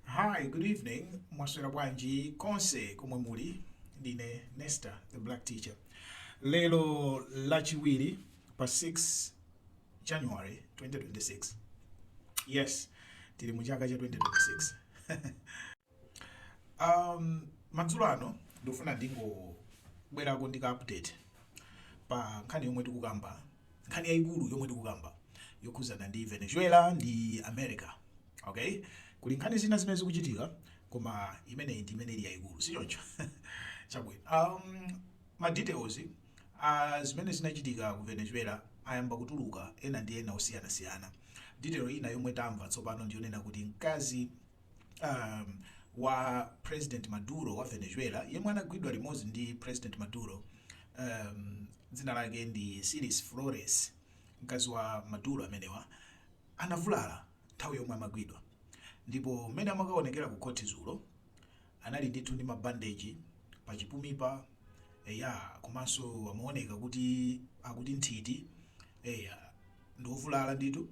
Hi, good evening. Mwaswera bwanji konse komwe muli. Ndine Nesta, the black teacher. Lero lachiwiri pa 6 January 2026. Yes, tili mu chaka cha 2026. um, madzulo ano ndikufuna ndingobwerako ndika update pa nkhani yomwe tikukamba nkhani yaikulu yomwe tikukamba yokhuzana ndi Venezuela ndi America ok kuli nkhani zina zimene zikuchitika koma imeneyi ndi imene ili yaikulu sichoncho chabwino um, ma details uh, a zimene zinachitika ku Venezuela ayamba kutuluka ena ndi ena osiyanasiyana detail ina yomwe tamva tsopano ndiyonena kuti mkazi um, wa president maduro wa venezuela yemwe anagwidwa limodzi ndi president maduro um, dzina lake ndi Cilia Flores mkazi wa maduro amenewa anavulala nthawi yomwe amagwidwa ndipo mmene amakaonekera ku khoti zulo anali ndithu ndi mabandeji pa chipumipa eya komanso amaoneka kuti akuti nthiti eya ndiovulala ndithu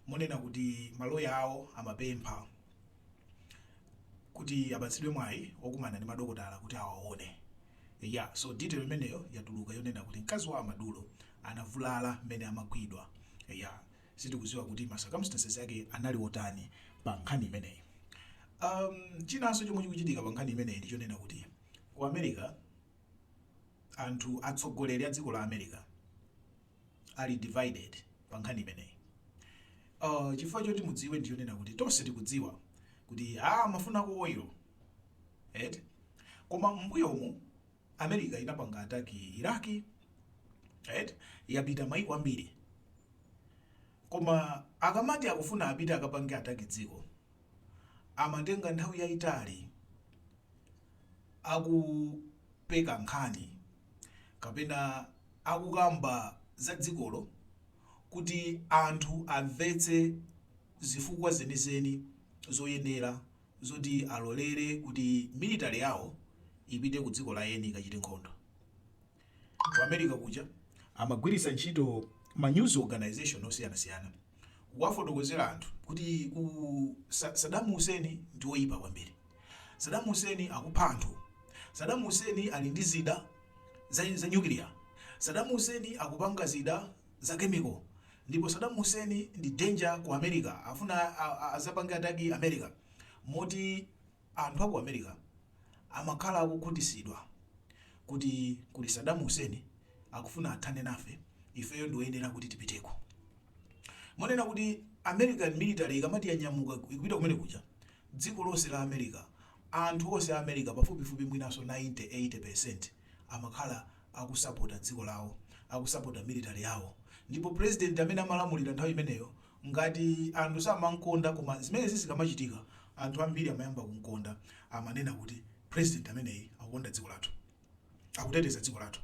monena kuti maloya awo amapempha kuti apatsidwe mwayi okumana ndi madokotala kuti awaone. Eya, so detail imeneyo yatuluka yonena kuti mkazi wa a Maduro anavulala mmene amagwidwa. Eya, sitikuziwa kuti ma circumstances ake anali otani pa nkhani imeneyi. Um, chinanso chomwe chikuchitika pa nkhani imeneyi ndi chonena kuti ku America anthu atsogoleri a dziko la America ali divided pa nkhani imeneyi. Uh, chifukwa choti mudziwe ndi chonena kuti tonse tikudziwa kuti ah, amafuna oil eti koma m'mbuyomu america inapanga ataki Iraq eti yapita maiko ambiri koma akamati akufuna apite akapange ataki dziko amatenga nthawi yaitali akupeka nkhani kapena akukamba za dzikolo kuti anthu amvetse zifukwa zenizeni zoyenera zoti alolere kuti military yawo ipite ku dziko la eni ikachite nkhondo. Ku America kuja amagwiritsa ntchito ma news organization osiyanasiyana kuwafotokozera anthu kuti ku Sa- Saddam Hussein ndi woyipa kwambiri, Saddam Hussein akupha anthu, Saddam Hussein ali ndi zida za, za nyukiliya, Saddam Hussein akupanga zida za chemical, ndipo Saddam Hussein ndi danger ku America, afuna a- a- azapange ataki America moti Anthu a ku America amakhala akukhutisidwa kuti kuli Saddam Hussein akufuna kuthana nafe ifeyo ndiwoyenera kuti tipiteko. Monena kuti American military ikamati yanyamuka ikupita kumene kuja dziko lonse la America anthu onse a America pafupifupi mwinanso 90, 80% amakhala akusapota dziko lawo, akusapota military yawo ndipo president amene amalamulira nthawi imeneyo Ngati anthu samamkonda koma zimenezi zikamachitika anthu ambiri amayamba kumkonda. Amanena kuti, President ameneyi akukonda dziko lathu. Akuteteza dziko lathu.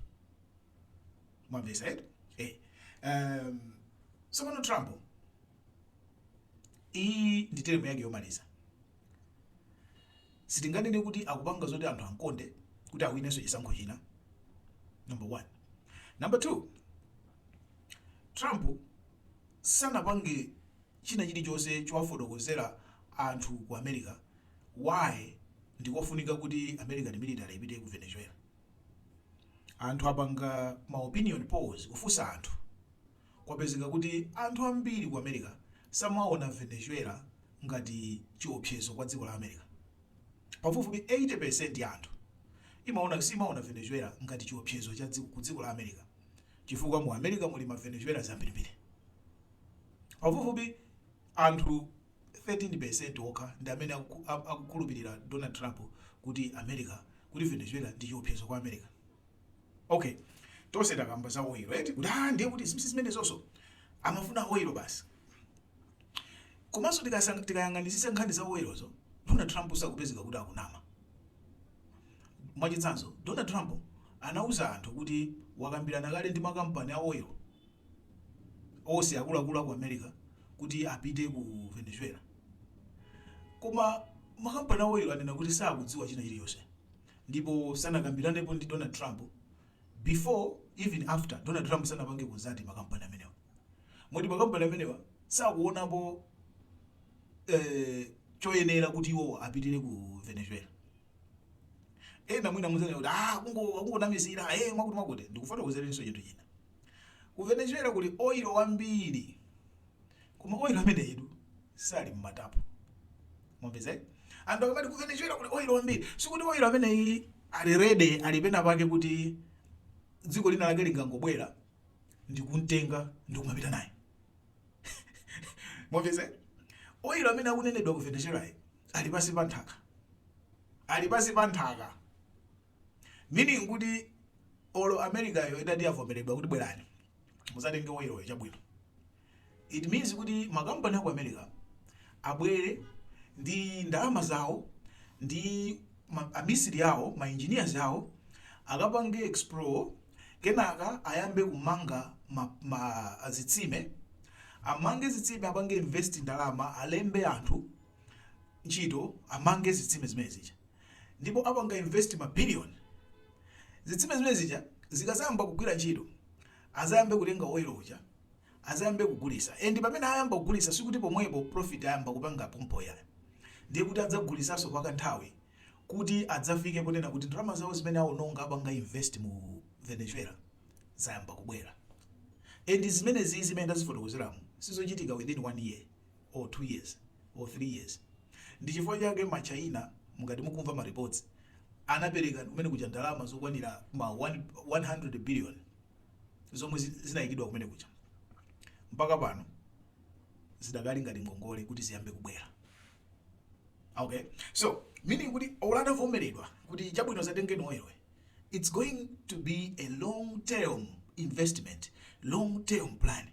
Mwamvetsa eti? Eh. Um, tsopano Trump iyi ndi teremu yake yomaliza. Sitinganene kuti akupanga zoti anthu amkonde kuti awinenso chisankho china. Number one. Number two, Trump sanapange china chilichonse chowafotokozera anthu ku America why ndikofunika kuti American military ipite ku Venezuela. Anthu apanga ma opinion polls kufunsa anthu kwapezeka kuti anthu ambiri ku America samaona Venezuela ngati chiopsezo kwa dziko la America. Pafupifupi 80% ya anthu imaona simaona Venezuela ngati chiopsezo ku dziko la America. chifukwa mu America muli ma Venezuela zambirimbiri. Pafupifupi anthu 13% okha ndi amene akuku- a- akukhulupirira Donald Trump kuti America kuti Venezuela ndi chiopsezo kwa America. Okay. Tonse takamba za oil, right? Kuti ah ndiye kuti zimisi zimenezonso amafuna oil basi. Komanso tikasang- tikayang'anisisa nkhani za oilozo, Donald Trump akupezeka kuti akunama. Mwachitsanzo, Donald Trump anauza anthu kuti wakambirana kale ndi makampani a oil onse akuluakulu a ku America kuti apite ku Venezuela. Koma makampani a oil anena kuti sakudziwa china chilichonse ndipo sanakambiranepo ndi Donald Trump before even after Donald Trump sanapange contact makampani amenewo. Moti makampani amenewa sakuonapo eh, choyenera kuti iwowo apitire ku venezuela ena mwina mudzanena kuti ah, kungo- akungonamizira eh, mwakuti mwakuti ndikufotokozerenso chinthu china ku venezuela kuli oilo wambiri koma oilo ameneyitu sali mmatanki mwamvetsa eh? anthu akamati ku venezuela kuli oilo wambiri sikuti oilo ameneyi ali ready ali pena pake kuti dziko lina lake lingangobwera ndikumtenga ndikumapita naye mwamvetsa oil amene akunenedwa ku venezuela ali pansi pa nthaka ali pansi pa nthaka meaning kuti olo americayo itati yavomeredwa kuti bwerani muzatenge oiloyo chabwino It means kuti makampani aku America abwere ndi ndalama zawo ndi ma, amisiri awo ma engineers awo akapange explore kenaka ayambe kumanga ma, ma, zitsime amange zitsime apange invest ndalama alembe anthu ntchito amange zitsime zimene zija ndipo akapanga invest ma billion zitsime zimene zija zikazayamba kugwira ntchito azayambe kutenga oil uja azayambe kugulitsa and pamene ayamba kugulisa sikuti pomwepo profit ayamba kupanga pompo yayi ndiye kuti adzagulitsanso kwa ka nthawi kuti adzafike ponena kuti ndalama zawo zimene awononga popanga invest mu Venezuela zayamba kubwera and zimeneziyi zimene ndazifotokozeramu sizochitika within one year or two years or three years ndi chifukwa chake ma China mukati mukumva ma reports anapereka kumene kuja ndalama zokwanira ma 100 billion zomwe zinaikidwa kumene kuja mpaka pano zidakali ngati ngongole kuti ziyambe kubwera okay so meaning kuti olo atavomeredwa kuti chabwino zatengeni oil wa it's going to be a long term investment long term plan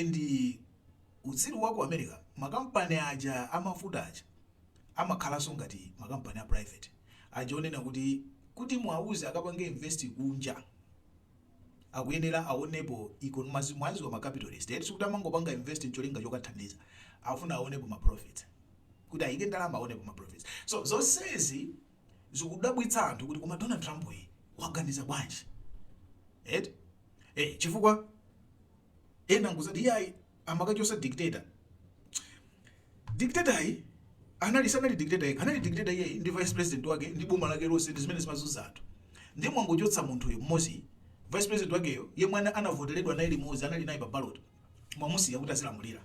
and uh, utsiru wa ku america makampani aja amafuta aja amakhalanso ngati makampani a private aja ponena kuti kuti muwauze akapange invest kunja akuyenera awonepo economy mumaziwa ma capitalist eti sikuti amangopanga invest ncholinga chokathandiza afuna awonepo ma profits kuti ayike ndalama awonepo ma profits so zonsezi zikudabwitsa anthu kuti koma Donald Trump yi waganiza bwanji eti eh chifukwa ena nkumati iyayi amakachosa dictator dictator yo anali sanali dictator yekha anali dictator iye ndi vice president wake ndi boma lake lonse ndi zimene zimazunza anthu ndiye mwangochotsa munthuyo mmodzi vice president wakeyo yemwe ana- anavoteredwa naye limodzi anali naye pa ballot mwamusiya kuti azilamulira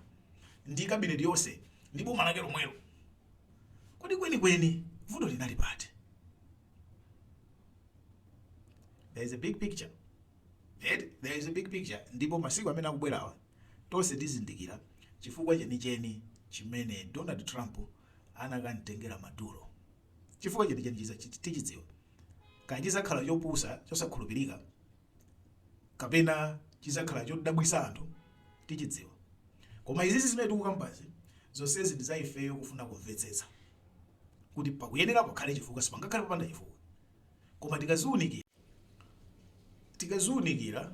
ndi kabineti yonse ndi boma lake lomwelo kodi kwenikweni vuto linali pati there is a big picture Eti there is a big picture ndipo masiku amene akubwerawa tonse tizindikira chifukwa chenicheni chimene Donald Trump anakamtengera Maduro. Chifukwa chenicheni tichidziwa. Kaya chidzakhala chopusa, chosakhulupirika kapena chidzakhala chodabwitsa anthu tichidziwa. Koma izizi zimene tikukambazi zonsezi ndi za ifeyo kufuna kumvetsetsa kuti pakuyenera pakhale chifukwa, sipangakhale popanda chifukwa. Koma tikaziunikira tikaziunikira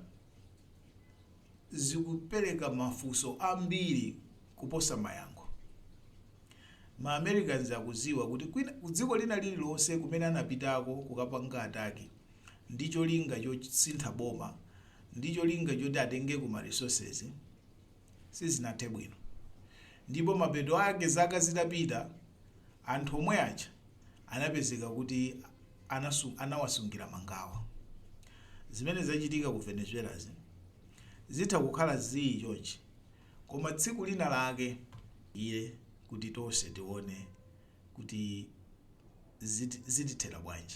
zikupereka mafunso ambiri kuposa mayankho. Ma Americans akuziwa kuti kwina, kudziko lina lililonse kumene anapitako kukapanga ataki ndi cholinga chosintha boma ndi cholinga choti atengeko ma resources sizinathe bwino ndipo mapeto ake zaka zitapita anthu omwe aja anapezeka kuti anawasungira mangawa. Zimene zachitika ku Venezuelazi zitha kukhala zii chonchi koma tsiku lina lake. iye kuti tonse tione kuti zitithera bwanji.